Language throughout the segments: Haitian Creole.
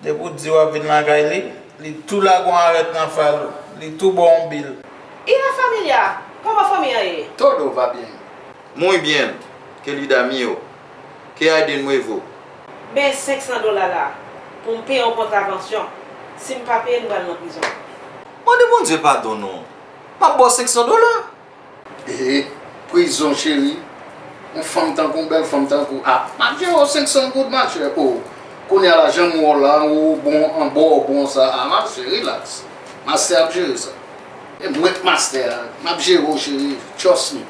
Depi ou di wap vin lakay li, li tou lage yon arèt nan fal ou, li tou baw yon bil. Y la familia! Kòman fanmi an ye? Todo va bien. Muy bien, querida mio. Que hay de nuevo? Men 500 dola la pou m peye yon kontravansyon. Si m pa peye, nou pral nan prizon. Mande Bondye padon non. Map baw 500 dola. Hee prizon cheri yon fanm tankou w bèl fanm tankou w ah map jere w 500 goud ma chère oh kounya la janm wè w la an wou bon an bo w bon sa ah map jere relax mastè ap jere sa e mwen k mastè a map jere w cheri trust me.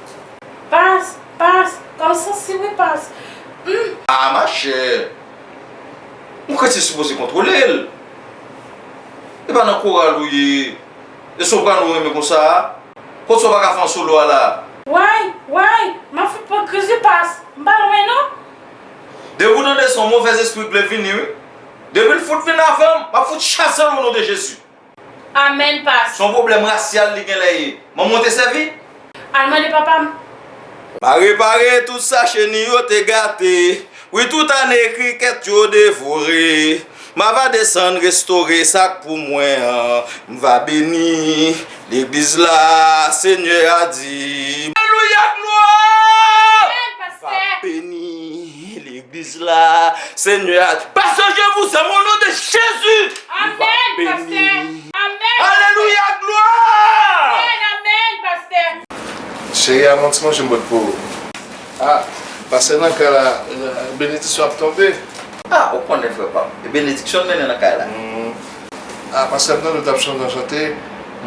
Pas, pas, kòm sansi wi pas, humm. Ah ma chère ou kretyen sipoze kontwole l e pa nan koral ou ye. E soprano renmen konsa a? Kotso pa ka fè yon solo a la a? Woy! Woy! M ap fout pran kriz upas! M pa lwen non! Depi w tande son movèz espri vle vini wi! Depi l fout vin avan m, m ap fout chase l o non de Jezi! Amen Past! Son pwoblèm rasyal li genlè ye. Manman w te sèvi? Al mande papa m. Pa repare tout sa cheni yo te gate Wi tout ane krikèt yo devore M a va desann restore sa k pou mwen an M va beni legliz la Senyè a di m. Alelouya glwa! M va beni. Hi legliz la senyè a di pa chanje vouzan o non de jezi ou va beni alelouya glwa. Cheri a mwen ti manje m pot pou ou. Ah pase nan kay la benediksyon ap tonbe. Ah ou konnen frè pam e benediksyon n mennen nan kay la. Ah pastè m tande w tap chante yon chante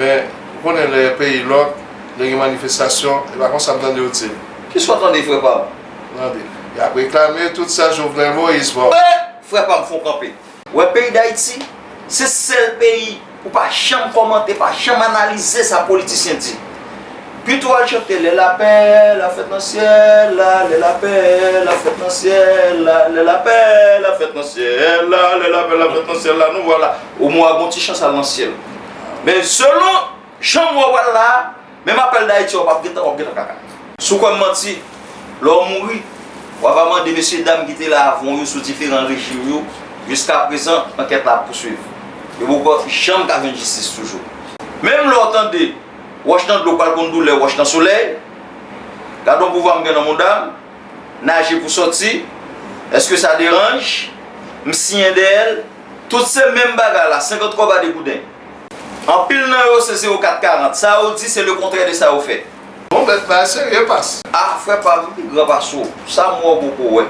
men ou konnen lè peyi lòk lè gen manifestasyon e pa konsa m tande w dil. Kisa w tande frè pam. Mande. Yap reklame tout sa Jovenel Moïse bon. Eeh frè pam fon kanpe. Wè peyi dayiti se sèl peyi ou pa janm kòmante pa janm analize sa politisyen di pito al chante lè lapè la fèt nan syèl la lè lapè la fèt nan syèl la lè lapè la fèt nan syèl la lè lapè la fèt nan syèl la nou vwala ou mwa gon ti chans al nan syèl men selon Janm wè wal la a, menm apèl dayiti wap ap gentan wap gentan kaka. Sou kwèm manti, lè w mouri, w ava mande mesye dam ki te la avan w yo sou diferan rejim yo, jiska prezan ankèt la ap pouswiv. Yo poko janm ka jwenn jistis toujou. Menm lè w tande, wòch nan dlo pral konn doulè wòch nan solèy, gad on pouvwa m gen nan mouda m, naje pou sòti, èske sa deranj, m siyen dèyè l, tout se menm bagay la, 50 kòb a 2 gouden. Anpil nan yo se 0 4 40. Sa yo di se le kontrè de sa yo fè. Bon bèt sa a serye pas. Ah frè pam m pi gran pase w sa m wè w poko wè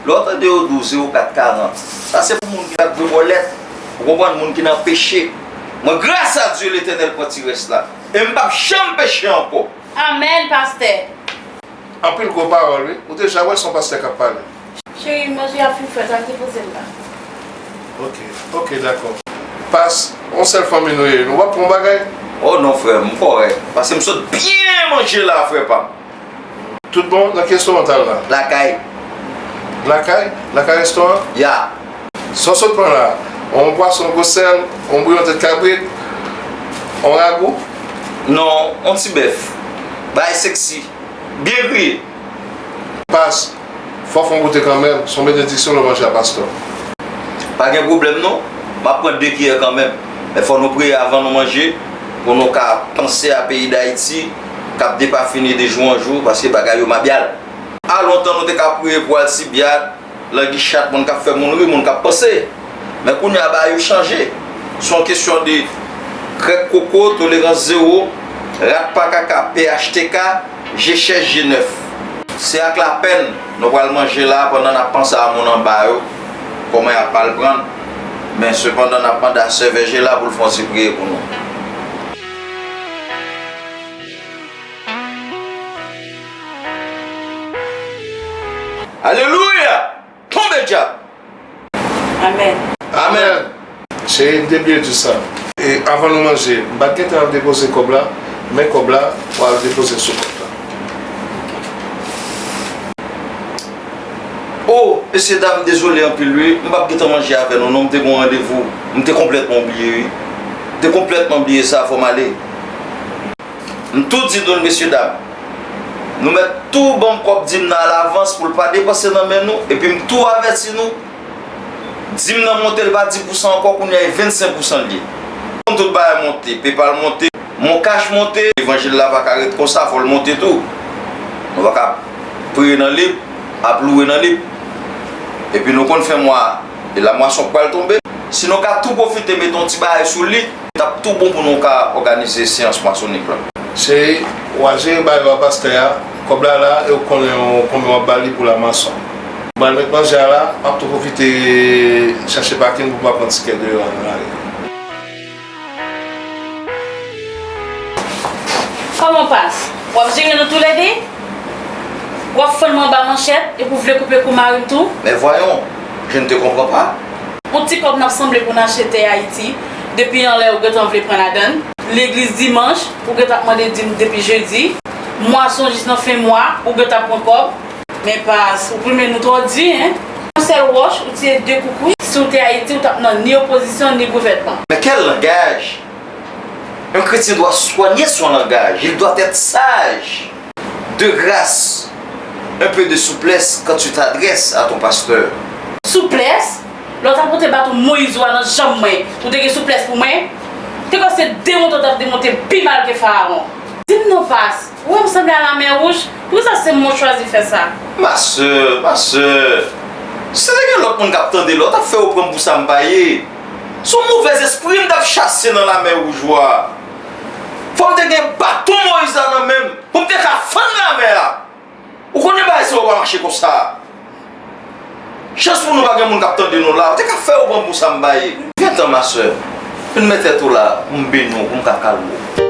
lè w tande yo di w 0 4 40 sa se pou moun ki nan gwo bòlèt ou konprann moun ki nan peche mwen gras a Dye letènèl pran ti rès la e m pap janm peche ankò. Amen pastè. Anpil gwo pawòl wi. Ou deja wè son pastè kap pale. Chérie manje a pi fret al depozel la. Ok ok dakò. Pas on sel fanmi nou ye nou pap pran bagay. Oh non frem ou korek pase m sot byen manje la fre pam. Tout bon nan ki restoran tal la. Lakay. Lakay? Lakay restoran? Yeah. Sa w sot pran la? On pwason gwo sèl, on bouyon tèt kabrit, on ragou? Non, on ti bèf. Bagay sexy. Byen griye. Pas, Fok fon goute kanmenm, son benediksyon lè w manje a pastò. Pa gen pwoblèm non, map pran 2 kiyè kanmenm. Men fò nou priye avan nou manje pou nou ka panse a peyi Dayiti kap depafini de jou an jou paske bagay yo mabyal. A lontan nou te ka priye pou Alcibiad, Languichatte, moun kap fè moun ri, moun kap panse. Men kounye a bagay yo chanje. Son kesyon de krèk koko, tolerans zewo, rat pa kaka, phtk. Je chèch je nèf. Se ak lapèn nou pral manje la pandan n ap panse a moun anba yo, kòman y ap mal pran n. Men, sepandan, n ap mande a Sè Vèje la pou l fè yon ti priye pou nou. Alelouya! Tonbe dyab! Amen! Amen! Cheri m te bliye jus sa. E avan nou manje. M pat gentan al depoze kob la men kob la ou al depozel sou kont la. Ok. Oh mesye dam dezole anpil wi m pap gentan manje avè nou non m te gon randevou m te konplètman oubliye wi m te konplètman bliye sa fòm ale. M tou di nou l mesye dam. Nou mèt tou ban m kòb dim nan alavans pou l pa depanse nan men nou epi m tou avèti nou dim nan monte l pa 10 pousan ankò kounye a e 25 pousan l ye. Bon tout bagay monte, PayPal monte, moncash monte. Levanjil la pa ka ret konsa fò l monte tou. Nou pa ka ap priye nan lib, ap louwe nan lib. Epi nou konn fen mwa e lamwason k pral tonbe. Si nou ka tou pwofite mete yon ti bagay sou li. T ap tou bon pou nou ka òganize seyans masonik lan. Cheri, w a jere bagay yo a pastè a. Kòb la la e ou konnen konbyen w ap ba li pou la mason. M pral met manje a la. M ap tou pwofite chache pakin pou m pa pran ti kè deyò a nan lari a. Kòman pas? W ap jere nou toulède? W ap fann mwen anba manchèt epi ou vle koupe kou mari m tou? Men vwayon, je ne te comprends pas. On ti kòb n ap sanble pou n achte tè Ayiti. Depi anlè ou gentan vle pran ladann. Legliz dimanch, ou gentan ap mande dim depi jedi. Mwason jis nan fen mwa, ou gentan pran kòb. Men pas, ou plumen nou twò di hein. Yon sèl wòch, ou tire 2 koukouy. Si ou te Ayiti, ou tap nan ni opozisyon, ni gouvènman. Nan kèl langaj? Yon kretyen dwa swanye son langaj, il doit être sage. De grâce, un peu de souplesse quand tu t'adresses à ton pasteur. Souplesse? Lè w t ap monte baton Moyiz ou a nan janm mwen, ou te gen souplès pou mwen? Te kwè se demon to w t ap demonte pi mal ke Farawon? Di m non Vas, ou wè m sanble a Lamè Wouj? Poukisa se mwen w chwazi fè sa? Ma sè, ma sè, si se te gen lòt moun k ap tande la, w t ap fè yo pran m pou sa m pa ye. Se yon movèzespri m t ap chase nan Lamè Wouj ou a. Fò m te gen baton Moyiz la nan men m pou m te ka fann Lamè a! Ou konnen bagay sa yo pa mache konsa. Chans pou nou pa gen moun k ap tande nou la. Ou te ka fè yo pran pou sanba ye. Gentan ma sè. Vin met tèt ou la pou m beni w pou m ka kalme w.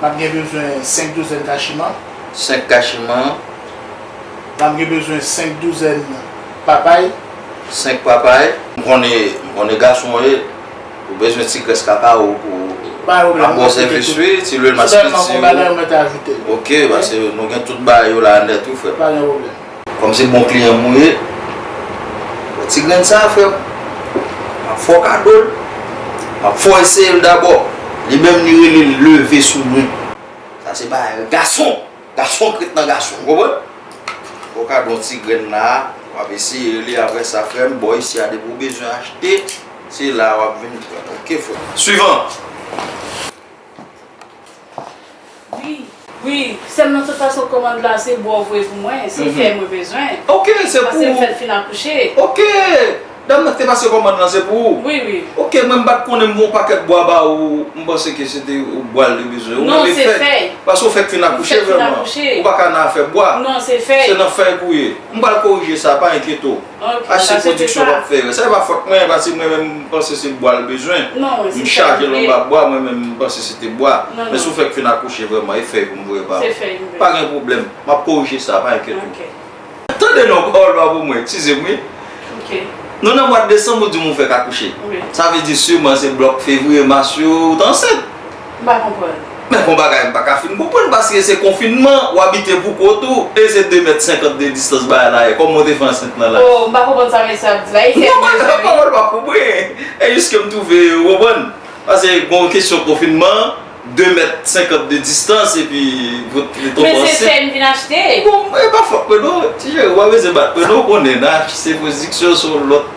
M ap gen bezwen senk douzèn kachiman. Senk kachiman. M ap gen bezwen senk douzèn papay. Senk papay. M konnen gason w ye, ou bezwen ti grès kaka w pou w ap bon sèvis wi, ti lwil maspiti w. Ok, pase nou gen tout bagay yo la nèt wi frè m. Kòm se bon kliyan mwen ye, wè ti grenn sa a frè m, m ap fè w kado l, m ap fè w eseye l dabò. Li menm li rele l leve sou mwen. Sa se bagay gason, gason k ret nan gason, ou konprann? M fè w kado yon ti grenn la a, w ap eseye li apre sa frè m, bò isi a depi w bezwen achte, se la a w ap vin pran l, ok frè m. Swivan! Wi, sèm nan tout fason komand la se bouw voye pou mwen, se fè mwen bezwen, paskem fèt fin akouche. Ok, dam nan ki te pase komand lan se pou ou? Wi wi. Ok, mwen mpat konnen m voye yon pakèt bwa ba ou, m panse ke se te bwa l te bezwen. Non, se fèy. Paske ou fèk fin akouche vrèman, ou paka nan afè bwa. Non, se fèy. Se nan fèy pou ye. M pral korije sa, pa enkyete w. Achte pwodiksyon wap fè yo. Sa e pa fòt mwen paske mwen menm m panse se bwa l bezwen. M chaje l anba bwa mwen menm m panse se te bwa. Men si w fèk fin akouche vrèman e fèy pou m voye ba ou. Pa gen pwoblèm. M ap korije sa pa enkyete w. Tande non w pawòl pa pou mwen. Tize m wi. Nou nan mwad desanm ou di m ou fèk akouche. Sa vle di siman se blòk fevriye mas yo ou t ansent. M pa konprann. Men bon bagay m paka fin konprann paske se konfinman ou abite pou kont ou e se 2 mèt 50 de distans baay la ye kòman ou te fè ansent nan laj. Oh m pa konprann sa mesye ap di la Haitian m bezwen wi. Pawòl pa pou bri e jis ke m twouve ou konprann pase bon kesyon konfinman 2 mèt 50 de distans epi pou ou te tonbe ansent. Men se fè m vin achte. Bon e pa fòt mwen non ti cheri ou pa bezwen bat mwen non ou konnen nan se pou diksyon se yon lòt.